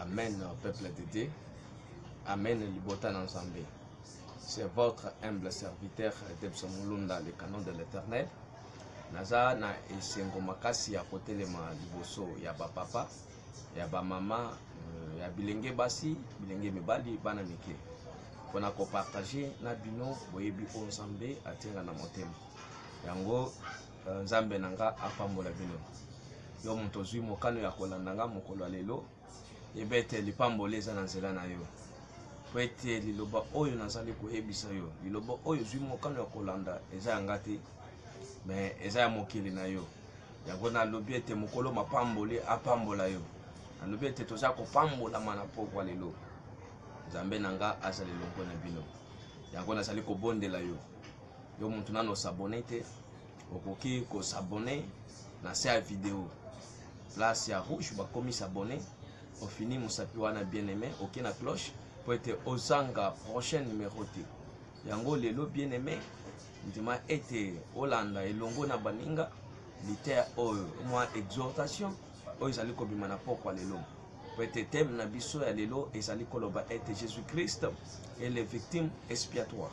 Amen, peuple de Dieu. Amen, libota na Nzambe. C'est votre humble serviteur Debson Mulunda, le canon de l'éternel. Naza na esengo makasi ya kotelema liboso ya ba papa, ya ba mama, euh, ya bilenge basi, bilenge mibali, bana mike. Pona ko partager na bino boyebi o Nzambe atenga na motema. Yango Euh, nzambe na nga apambola bino yo moto ozwi mokano ya kolanda nga mokolo ya lelo yeba ete lipamboli eza na nzela na yo mpo ete liloba oyo nazali koyebisa yo liloba oyo ozwi mokano ya kolanda eza ya nga te me eza ya mokili na yo yango nalobi ete mokolo mapamboli apambola yo nalobi ete toza kopambolama na pokwa lelo nzambe na nga azali longo na bino yango nazali kobondela yo yo motu nano osabone te okoki ko s'abonner na se ya video place ya rouge bakomi s'abonner ofini mosapi wana bien aimé oke na cloche mpo ete ozanga prochain numero te yango lelo bien aimé ndima ete olanda elongo na baninga liter oyo mwa exhortation oyo ezali kobima na pokwa lelo mpo ete teme na biso ya lelo ezali koloba ete jésus christ est le victime expiatoire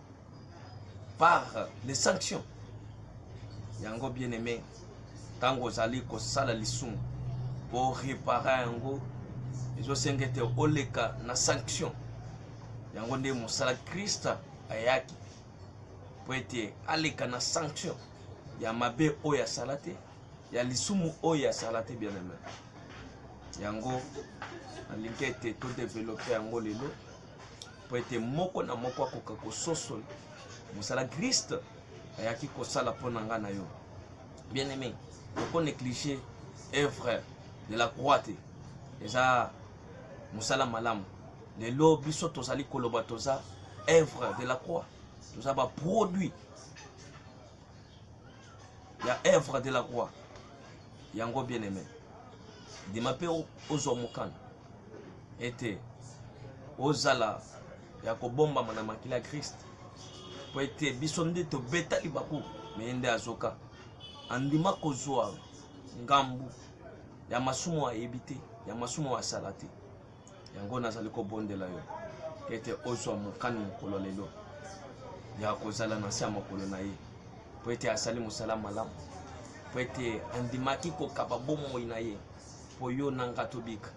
par les sanctions yango bien aimé ntango ozali kosala lisumu mpo repara yango ezosenga ete oleka na sanction yango nde mosala krista ayaki mpo ete aleka na sanction ya mabe oyo asala te ya lisumu oyo asala te bien aimé yango nalingi ete todevelope yango lelo mpo ete moko na moko akoka kososola mosala kriste ayaki kosala mpo na ngai na yo bien aimé oko néglige œuvre de la croix te eza mosala malamu lelo biso tozali koloba toza œuvre de la croix toza baproduit ya œuvre de la croix yango bien aimé ndima mpe ozwa mokano ete ozala ya kobombama na makila ya krist mpo ete biso nde tobeta libaku meye nde azoka andima kozwa ngambu ya masumu ayebi te ya masumu asala te yango nazali kobondela yo ete ozwa mokano mokolo lelo ya kozala na se ya makolo na ye mpo ete asali mosala malamu mpo ete andimaki kokaba bomoi na ye mpo yo na nga tobika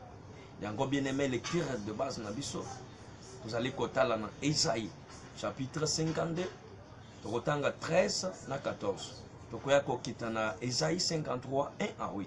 yango bien aime lecture de base na biso tozali kotala na esai chapitre 52 tokotanga 13 na 14 tokoya kokita na esai 53 1 à 8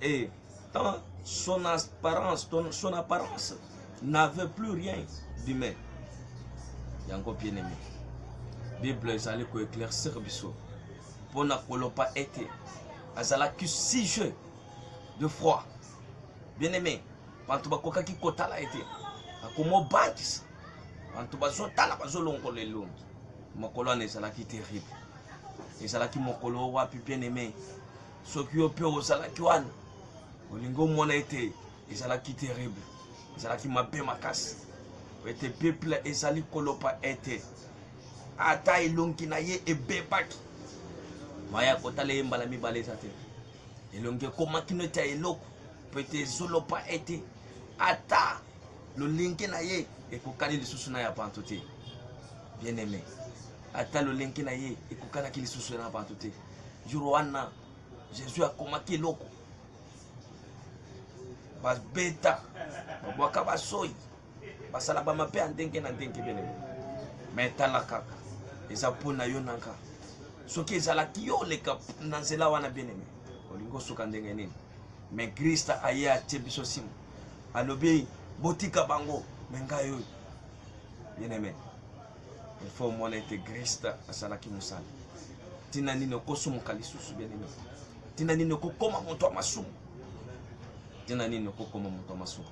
Et dans son apparence, son apparence n'avait plus rien d'humain. Yango bien aimé. Bible ezali ko éclaircir biso pona kolopa ete azalaki sujet de froid. Bien aimé, bantu bakokaki kotala ete akomobangisa bantu bazotala bazolongola elongi mokolo wana ezalaki terrible ezalaki mokolo wapi bien aimé soki yo mpe ozalaki wana olingi omona ete ezalaki terrible ezalaki mabe makasi ete peuple ezali koloba ete ata elongi na ye ebebaki maya kotala ye mbala mibale eza te elongi ekomaki neti ya eloko mpo ete ezoloba ete ata lolenge na ye ekokani lisusu na ya bato te bien aime ata lolenge na ye ekokanaki lisusu na bato te jour wana jesus akomaki eloko babeta babwaka basoi basala bamabe ya ndenge na ndenge belele me tala kaka eza mpo na yo na nga soki ezalaki yo oleka na nzela wana beneme olingi osuka ndenge nini me krista aye atie biso nsima alobi botika bango me ngai oyo bien aimé il faut omona ete griste asalaki mosala ntina nini okosumuka lisusu bieneme ntina nini okokoma moto ya masumu ntina nini okokoma moto ya masumu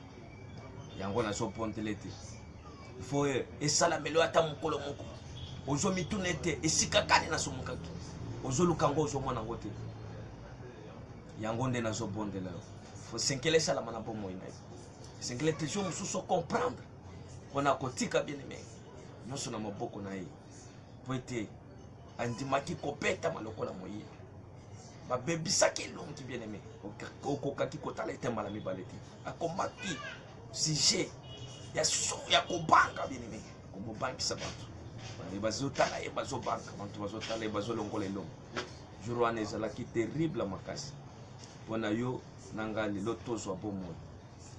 yango nazopontele te fo esalamelo ata mokolo moko ozomituna ete esika kani nasumukaki ozoluka yango ozomona yango te yango nde nazobondela yo fo senkele esalama na bomoi na yo senkele te jo mosusu okomprendre mpo na kotika bien-aime nyonso na maboko na ye mpo ete andimaki kobetama lokola moyibi babebisaki elongi bien-aime okokaki kotala ete mbala mibale te akomaki sujet ya so ya kobanga bien-aime komobangisa bato bazotala ye bazobanga bato bazotala ye bazolongola elongo jour wana ezalaki terrible makasi mpo na yo na ngai lelo tozwa bomoi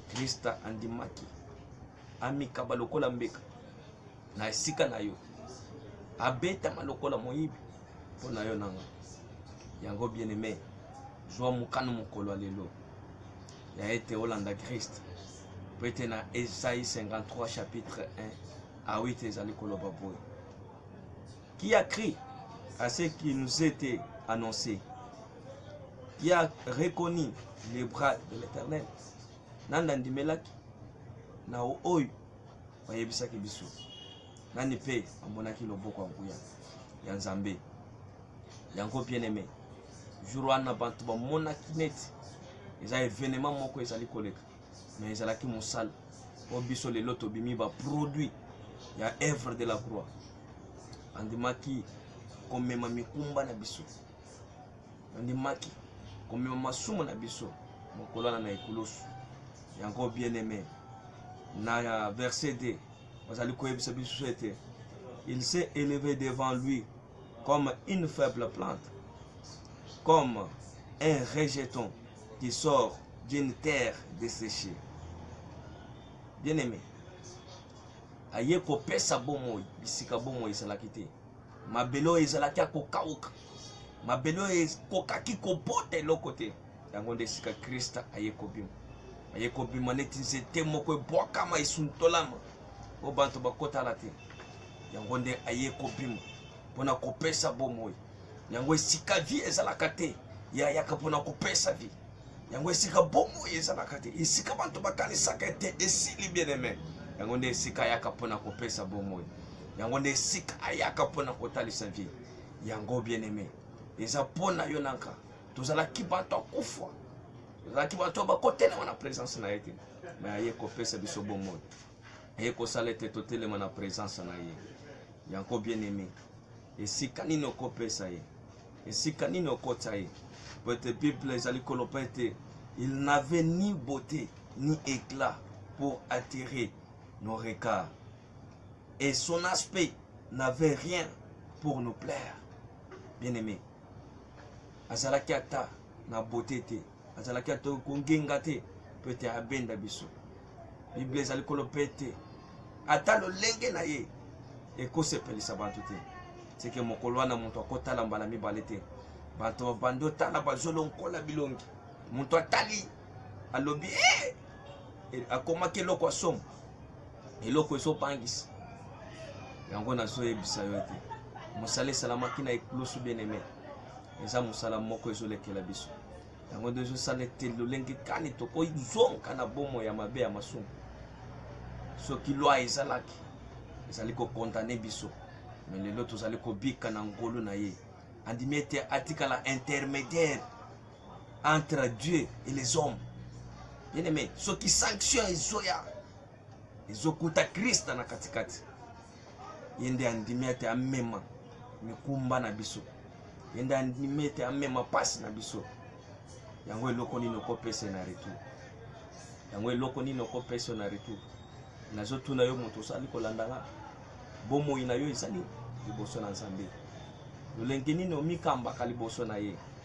Krista andimaki amikaba lokola mbeka na esika na yo, abetama lokola moyibi mpo na yo nanga yango bien aime zwa mokano mokolo ya lelo ya ete olanda krist mpo ete na esai 53 chapitre 1 a 8 ezali koloba boye qui a cru à ce qui nous était annoncé, qui a reconnu les bras de l'Éternel. Nani andimelaki na oyo bayebisaki biso, nani mpe amonaki loboko ya nguya ya Nzambe. Yango bien aimé, jour wana bato bamonaki neti eza evenement moko ezali koleka. mais ezalaki mosala oyo biso lelo tobimi baproduit ya œuvre de la croix andimaki komema mikumba na biso andimaki komema masumu na biso mokolana na ekulusu yango bien aimé na verset 2 bazali koyebisa biso ete il s'est élevé devant lui comme une faible plante comme un rejeton qui sort d'une terre desséchée. Bien aimé, aye kopesa bomoi bisika bomoi ezalaki te mabele oyo ezalaki ya kokauka mabele oyo ekokaki kobota eloko te yango nde esika krista aye kobima aye kobima neti nzete moko ebwakama esuntolama oyo bato bakotala te yango nde aye kobima pona kopesa bomoi yango esika vie ezalaka te ya yaka pona kopesa vie yango esika bomoi ezalaka te esika bato bakanisaka ete esili bien aime yango nde esika ayaka pona kopesa bomoi yango nde esika ayaka pona kotalisa vie yango bien aime eza pona yo nanka tozalaki bato akufa tozalaki bato bakotelema na presence na ye te me aye kopesa biso bomoi aye kosala ete totelema na presence na ye Yango bien aime, esika nini okopesa ye, esika nini okotya ye? Po ete Bible ezali koloba ete il n'avait ni beaute ni éclat pour attirer nos regards et son aspect n'avait rien pour nous plaire. Bien aime, azalaki ata na beaute te. azalaki ata kongenga te mpo ete abenda biso biblia ezali koloba ete ata lolenge na ye ekosepelisa bato te seke mokolo wana moto akotala mbala mibale te bato babandi otala bazolonkola bilongi moto atali alobi eh! e, akomaki eloko ya somo eloko ezobangisa yango nazoyebisa yo ete mosala esalamaki na ekulusu bien aime eza mosala moko ezolekela biso yango nde ezosala ete lolenge kani tokozonga na bomo ya mabe ya masumu soki lwa ezalaki ezali kokondane biso me lelo tozali kobika na ngolu na ye andimi ete atikala intermédiaire entre dieu et les hommes bien aimé soki sanction ezoya ezokuta krista na katikati ye nde andimi ete amema mikumba na biso ye nde andimi ete amema mpasi na biso yango eloko nini okopesa na retour yango eloko nini okopesa na retour nazotuna yo moto osali kolanda nga bomoi na yo ezali liboso na nzambe lolenge nini omikambaka liboso na ye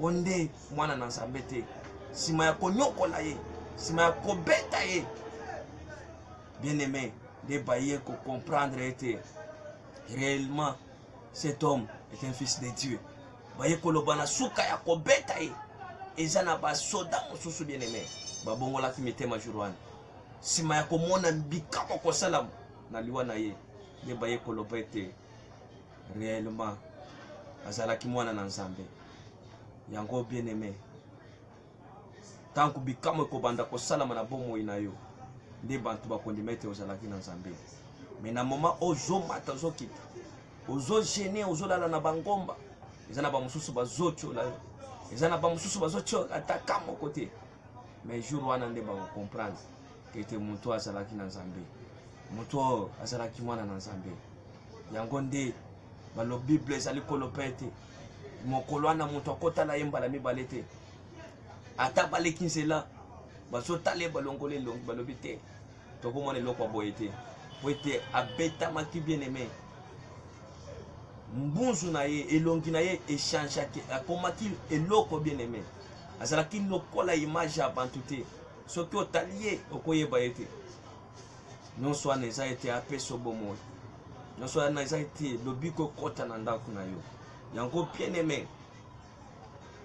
Oyo nde mwana na Nzambe te. Nsima ya konyokola ye, nsima ya kobeta ye, bien aime nde baye kocomprendre ete réellement cet homme est un fils de Dieu. Baye koloba na suka ya kobeta ye eza na basoda mosusu bien aime babongolaki mitema jour wana nsima ya komona bikamwa kosalama na liwa na ye nde baye koloba ete reellement azalaki mwana na nzambe yango bien aime ntango bikamwa ekobanda kosalama na bomoi na yo nde bato bakondima ete ozalaki na nzambe me na moma ozomata ozokita ozogene ozolala na bangomba eza na bamosusu bazotyola yo eza na bamosusu bazotyola ata ka moko te mais jour wana nde bakocomprendre ete moto oyo azalaki na nzambe moto oyo azalaki mwana na nzambe yango nde balobi bible ezali koloba ete mokolo wana moto akotala ye mbala mibale te ata baleki nzela bazotala ye balongoli elongi balobi te tokomona eloko ya boye te po ete abetamaki bien aime mbunzu na ye elongi na ye echangeaki akomaki eloko bien aime azalaki lokola image ya bantu te soki otali ye okoyeba ye te nyonso wana eza ete apesa bomoi nyonso wana eza ete lobiko ekota na ndako na yo yango bien aime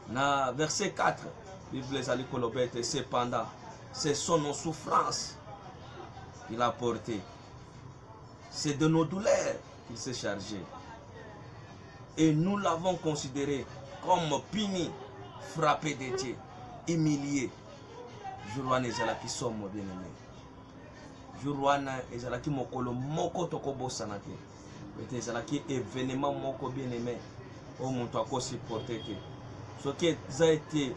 na verset 4 bible ezali koloba ete cependant ce sont nos souffrances qu'il a porté c'est de nos douleurs qu'il s'est chargé et nous l'avons considéré comme puni frappé de Dieu humilié jour wana ezalaki somo bien aimé jour wana ezalaki mokolo moko tokobosana te ete ezalaki evenement moko bien aimé oyo moto akosupporte te soki eza ete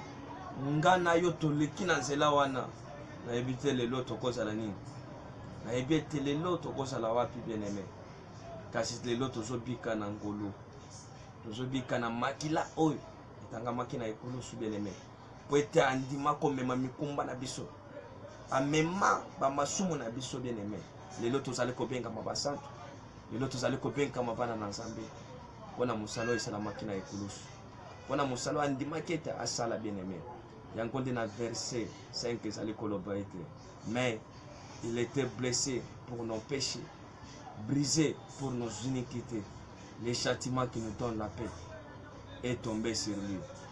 nga na yo toleki na nzela wana nayebi te lelo tokozala nini nayebi ete lelo tokozala wapi bien aimé kasi lelo tozobika na ngolu tozobika na makila oyo etangamaki na ekulusu bien aimé mpo ete andima komema mikumba na biso amema bamasumu na biso bien aime lelo tozali kobengama basantu lelo tozali kobengama bana na nzambe mpo na mosala oyo esalamaki na ekulusu mpo na mosala oyo andimaki ete asala bien aime yango nde na verse 5 ezali koloba ete mais il était blessé pour nos péchés brisé pour nos iniquités le châtiment qui nous donne la paix est tombé sur lui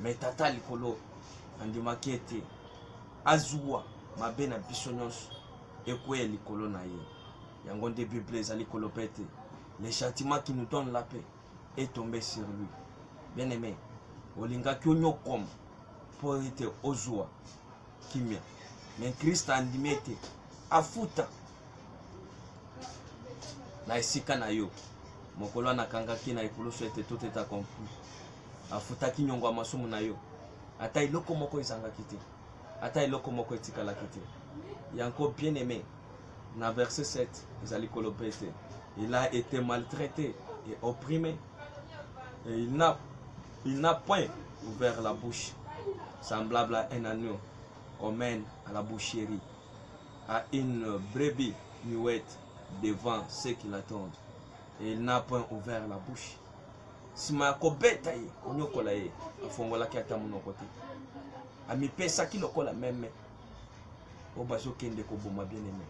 Mais tata likolo andimaki ete azuwa mabe na biso nyonso ekweya likolo na ye. Yango nde Biblia ezali koloba ete le châtiment qui nous donne la paix est tombé sur lui. Bien aimé, olingaki onyokwama mpo ete ozwa kimia, me Kristo andimi ete afuta na esika na yo mokolo anakangaki na ekulusu ete tout est accompli afutaki nyongo ya masumu na yo ata eloko moko ezangaki te ata eloko moko etikalaki te yango bien aimé na verse 7 ezali koloba ete il a été maltraité et opprimé et il n'a il n'a point ouvert la bouche semblable à un agneau qu'on mène à la boucherie à une brebis muette devant ceux qui l'attendent et il n'a point ouvert la bouche nsima ya kobeta ye konyokola ye afongolaki ata monoko te amipesaki lokola meme oyo bazokende koboma bien aime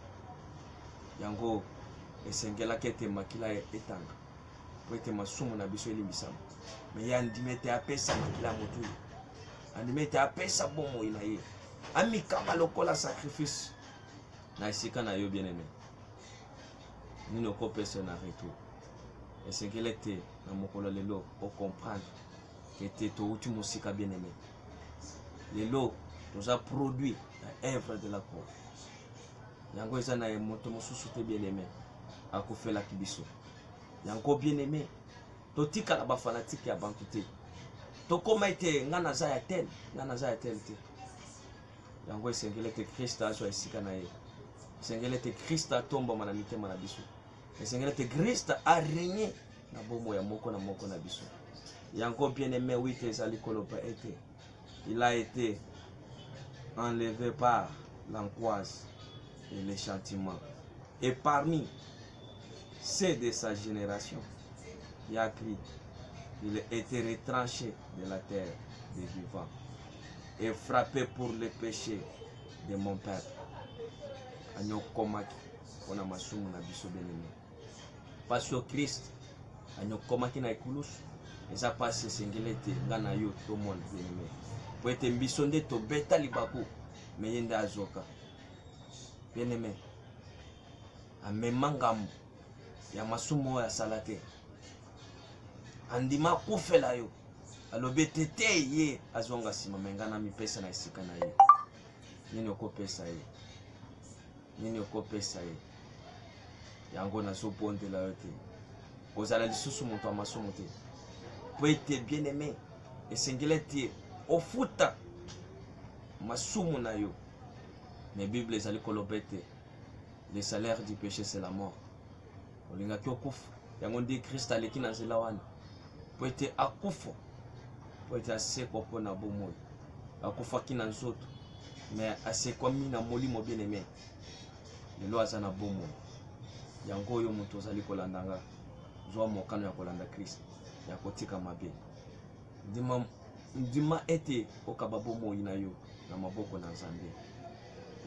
yango esengelaki ete makila etanga mpo ete masumu na biso elimbisama me ye andimi ete apesa makila ya motu ye andimi ete apesa bomoi na ye amikama lokola sacrifice na esika na yo bien aime nini okopesa na retour esekele te na mokolo lelo o comprendre que te touti mosika bien aimé lelo toza produit ya œuvre de la croix yango eza na ye moto mosusu te bien aimé akufelaki biso yango bien aimé totikala bafanatike ya bantu te tokoma ete ngai naza ya tel ngai naza ya tel te yango esengeli ete krista azwa esika na ye esengeli ete krista atombama na mitema na biso esengeli ete krista aregne na bomo ya moko na moko na biso yango bien aime wite ezali koloba ete il a été enlevé par l'angoisse et les chantiments et parmi ceux de sa génération il a cri il a été retranché de la terre des vivants et frappé pour les péchés de mon peuple anyokomaki mpo na masumu na biso benene. Mpasi oyo Kristo anyokomaki na ekulusu eza mpasi esengeli ete ngai na yo tomona benene, mpo ete biso nde tobeta libaku me ye nde azoka benene amema ngambo ya masumu oyo asala te andima akufela yo alobi ete te ye azonga nsima me ngai namipesa na esika na ye nini okopesa ye nini okopesa ye yango nazobondela yo te kozala lisusu moto ya masumu te po ete bien aime esengeli ete ofuta masumu na yo mais bible ezali koloba ete le salaire du péché c'est la mort olingaki okufa yango nde krist aleki na nzela wana mpo ete akufa mpo ete asekwa mpo na bomoi akufaki na nzoto me asekwami na molimo bien aime lelo aza na bomoi yango oyo moto ozali kolanda nga zwa mokano ya kolanda krist ya kotika mabe ndima, ndima ete okaba bomoi na yo na maboko na nzambe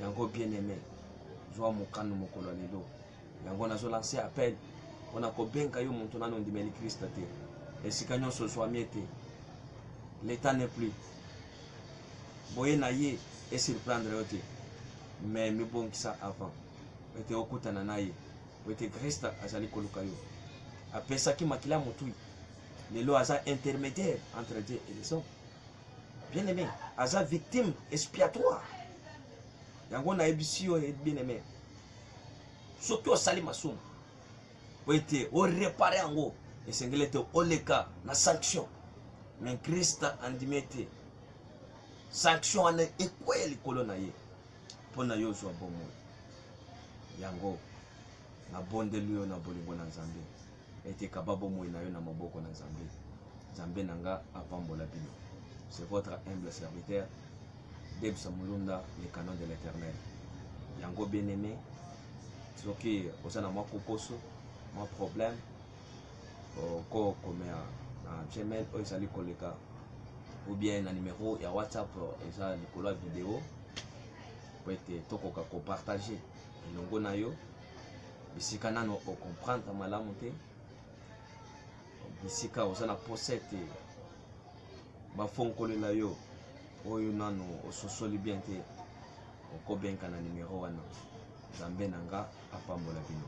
yango bien aime zwa mokano mokolo ya lelo yango nazo lance appel mpona kobenga yo moto nano ondimeli krista te esika nyonso ozwami ete leta ne plus boye na ye esurprendre yo te mais mibongisa avant ete okutana na ye po ete krista azali koluka yo apesaki makila motui lelo aza intermédiaire entre dieu et les hommes bien aimé aza victime expiatoire yango nayebisi yo bien aimé soki osali masumu po ete orepare yango esengeli ete oleka na sanction me krista andimi ete sanction wana ekweya likolo na ye mpo na yo ozwa bomoi yango nabondeli yo na bolingo na nzambe ete kaba bomoi na yo na maboko na Nzambe. Nzambe na nga apambola bino. C'est votre humble serviteur, Debsa Mulunda, le canon de l'éternel. Yango bien aimé, soki oza na mwa kokoso, mwa problème, okokomea na gmail oyo ezali koleka ou bien na numero ya whatsapp eza likolo ya video po ete tokoka kopartage elongo na yo bisika nano ocomprendre malamu te bisika oza na posa ete bafonkolela yo oyo nano ososoli bien te okobenka na nimero wana nzambe na nga apambola bino